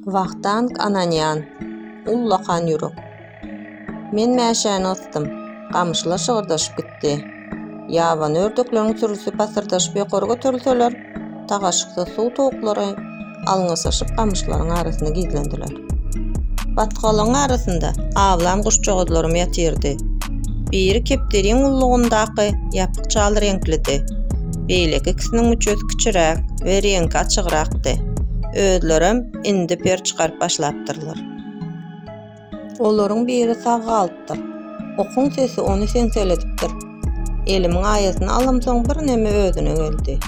Wahtank Ananýan, Ullakan ýürek. Men mäşäni gysdym. Gamyşlar şygyrdaşyp gitdi. Ýabany ördekleriň sürüsi pasyrdaşyp ýokary göterilseler, tagaşyksyz suw towuklary alňasaşyp gamyşlaryň arasyna gizlendiler. Batgalygyň arasynda awlan guşjagazlarym ýatyrdy. Biri kepderiň ullugyndaky ýapyk çal reňklidi. beýleki ikisiniň müçesi kiçiräk we reňki açygrakdy. Özlerem indi per çykaryp başlapdyrlar. Olaryň biri sag galypdyr. Okuň sesi ony seňseledipdir. Elimiň aýasyny alamsoň birneme özüne geldi.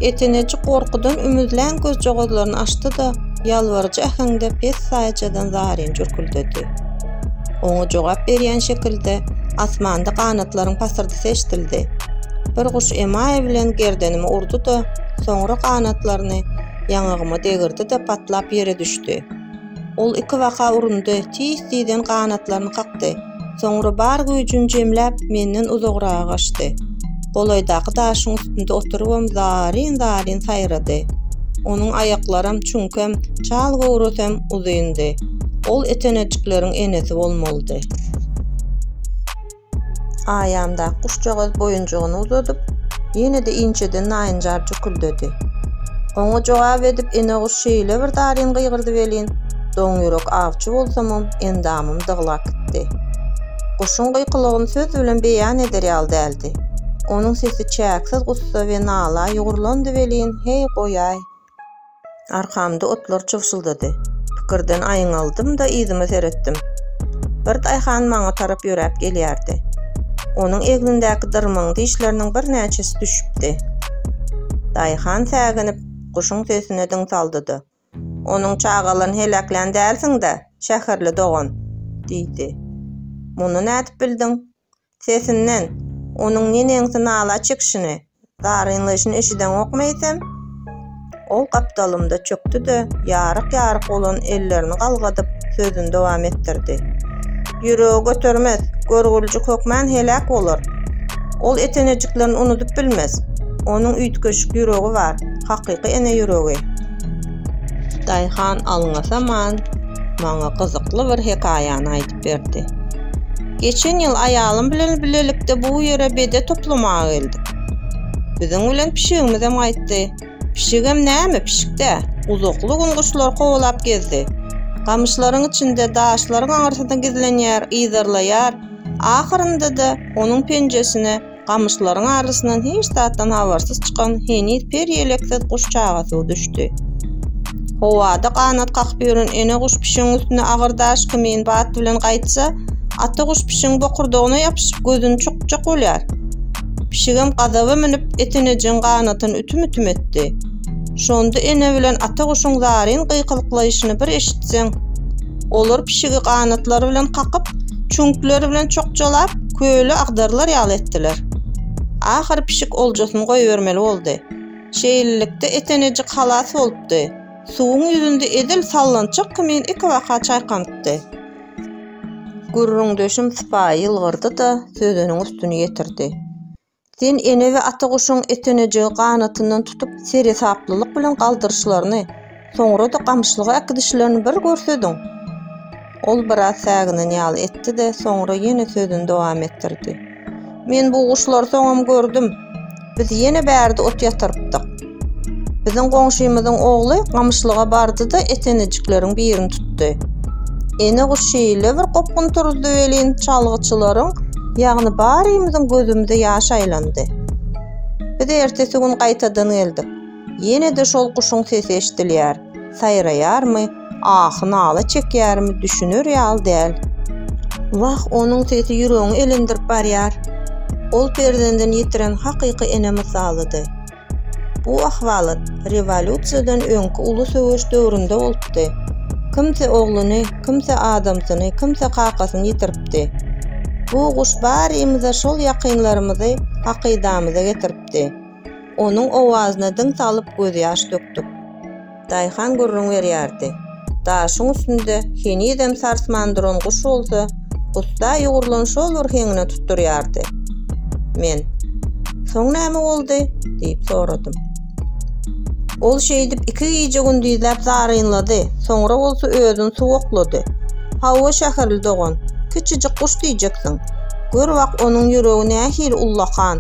Eteneji gorkudan ümüzlän gözjagazlaryny açdy-da, ýalbaryjy äheňde pessaýjadan zaryn jürküldedi. Oňa jogap berýän şekilde asmanda ganatlaryň pasyrdysy eşidildi. Bir guş emaý bilen gerdenime urdy-da, soňra ganatlaryny ýaňagyma degirdi-de patlap ýere düşdi. Ol iki baka urundy, tiz-tizden ganatlaryny kakdy. Soňra bar güýjüni jemläp, menden uzagraga gaçdy. golaýdaky daşyň üstünde oturybam zaryn-zaryn saýrady. Onuň aýaklaram çüňkem, çal göwresem uzyndy. Ol etenejikleriň enesi bolmalydy. Aýamdaky guşjagaz boýunjygyny uzadyp, ýene-de inçeden naýynjar jüküldedi. Oňa jogap edip ene guş şeýle bir zaryn gygyrdy welin, doňýürek awçy bolsamam, endamym dyglap gitdi. Guşuň gykylygyny söz bilen beýan eder ýaly däldi. Onuň sesi çäksiz gussa we nala ýugrulandy welin, heý, goýaý! Arkamda otlar çybşyldady. Pikirden aýňaldym-da yzyma seretdim. Bir daýhan maňa tarap ýöräp gelýärdi. Onuň egnindäki dyrmaň dişleriniň birnäçesi düşüpdi. Daýhan säginip, guşuň sesine diň saldy-da, Onuň çagalaryny heläklän dälsiň-dä, şäherli dogan? diýdi. Muny nädip bildiň? Sesinden, onuň neneňsi nala çekişini, zarynlaýşyny eşideňokmy eýsem? Ol gapdalymda çökdi-de, ýaryk-ýaryk bolan ellerini galgadyp, sözüni dowam etdirdi. Ýüregi götermez, görgüljik hökmän heläk bolar. Ol ete-nejiklerini unudyp bilmez. Onuň üýtgeşik ýüregi bar. hakyky ene ýüregi. Daýhan alňasaman maňa gyzykly bir hekaýany aýdyp berdi. Geçen ýyl aýalym bilen bilelikde bu ýere bede toplamaga geldik. Biziň bilen pişigimizem gaýtdy. Pişigem näme, pişik-dä. Uzakly gün guşlary kowalap gezdi. Gamyşlaryň içinde, daşlaryň aňyrsynda gizlenýär, yzarlaýar. Ahyrynda-da onuň penjesine Gamyşlaryň arasyndan hiç zatdan habarsyz çykan heniz per ýeleksiz guş çagasy düşdi. Howada ganat kakyp ýören ene guş pişigiň üstüne agyr daş kimin bat bilen gaýtsa, ata guş pişigiň bokurdagyna ýapyşyp gözüni çukjak bolýar. Pişigem gazaba münüp, etenejeň ganatyny ütüm-ütüm etdi. Şonda ene bilen ata guşuň zaryn gykylyklaýşyny bir eşitseň! Olar pişigi ganatlary bilen kakyp, çüňkleri bilen çokjalap, köle agdarylar ýaly etdiler. Ahyry pişik oljasyny goýbermeli boldy. Şeýlelikde, Etenejik halas bolupdy. Suwuň ýüzünde edil sallançak kimin ikibaka çaýkanypdy. Gürrüňdeşim sypaýy ýylgyrdy-da, sözüniň üstüni ýetirdi. Sen ene we ata guşuň etenejegi ganatyndan tutup seresaplylyk bilen galdyryşlaryny, soňra-da gamyşlyga äkidişlerini bir görsediň! Ol biraz säginen ýaly etdi-de, soňra ýene sözüni dowam etdirdi. Men bu guşlary soňam gördüm. Biz ýene bärde ot ýatyrypdyk. Biziň goňşymyzyň ogly gamyşlyga bardy-da etenejikleriň birini tutdy. Ene guş şeýle bir gopgun turuzdy welin, çalgyçylaryň, ýagny barymyzyň gözümize ýaş aýlandy. Biz ertesi gün gaýtadan geldik. Ýene-de şol guşuň sesi eşidilýär. Saýraýarmy, ahy-nala çekýärmi, düşüner ýaly däl. Wah, onuň sesi ýüregiňi elendirip barýar. Ol perzendini ýitiren hakyky ene mysalydy. Bu ahwalat rewolýusiýadan öňki uly söweş döwründe bolupdy. Kimsi ogluny, kimsi adamsyny, kimsi kakasyny ýitiripdi. Bu guş barymyza şol ýakynlarymyzy hakydamyza getiripdi. Onuň owazyna diň salyp gözýaş dökdük. Daýhan gürrüň berýärdi. Daşyň üstünde henizem sarsman duran guş bolsa, gussa ýugrulan şol bir heňine tutdurýardy. Men, Soň näme boldy? diýip soradym. Ol şeýdip iki gije-gündizläp zarynlady, soňra bolsa özüni suwaklady. Hawa, şäherli dogan, kiçijik guş diýjeksiň. Gör wak, onuň ýüregi nähili ullakan.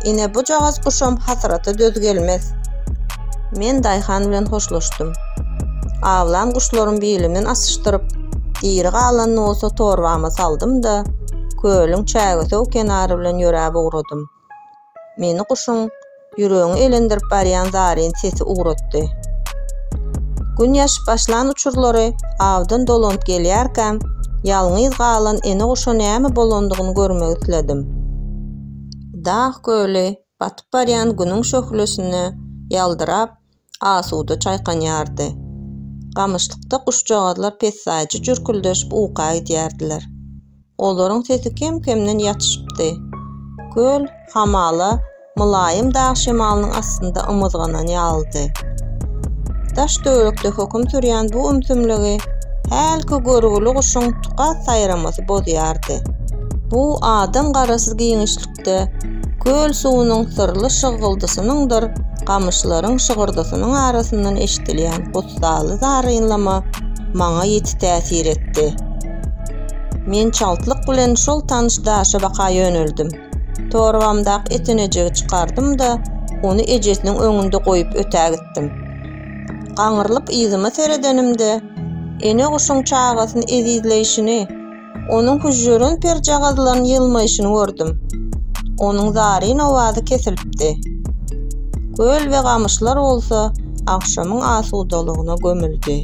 Ine, bujagaz guşam hasrata döz gelmez. Men daýhan bilen hoşlaşdym. Awlan guşlaryň bilimin asyşdyryp, diri galanyny bolsa torbama saldym-da, kölüň çägesöw kenary bilen ýöräp ugradym. Meni guşuň ýüregiňi elendirip barýan zaryn sesi ugratdy. Gün ýaşyp başlan uçurlary awdan dolanyp gelýärkäm, ýalňyz galan ene guşa näme bolandygyny görmek isledim. Dag köli Batyp barýan Günüň şöhlesinde ýaldyrap, asuda çaýkanýardy. Gamyşlykda guşjagazlar pessaýjy jürküldeşip uka gidýärdiler. Olaryň sesi kem-kemden ýatyşypdy. Köl hamala mylaýym dag şemalynyň astynda ymyzganan ýalydy. Daş-töwerekde höküm sürýän bu ümsümligi hälki görgüli guşuň tukat saýramasy bozýardy. Bu adam garasyz giňişlikde birlikde köl suwunyň syrly şyggyldysynyňdyr gamyşlaryň şygyrdysynyň arasyndan eşidilýän gussaly zarynlama maňa ýiti täsir etdi. Men çaltlyk bilen şol tanyş daşa baka ýöneldim. Torbamdaky etenejegi çykardym-da, ony ejesiniň öňünde goýup ötägitdim. Gaňrylyp yzyma seredenimde, ene guşuň çagasyny ezizleýşini, Onuň hüžžürin perjagazlaryny ýylmaýşyny gördüm. Onuň zaryn owazy kesilipdi. Köl we gamyşlar bolsa agşamyň asudalygyna gömüldi.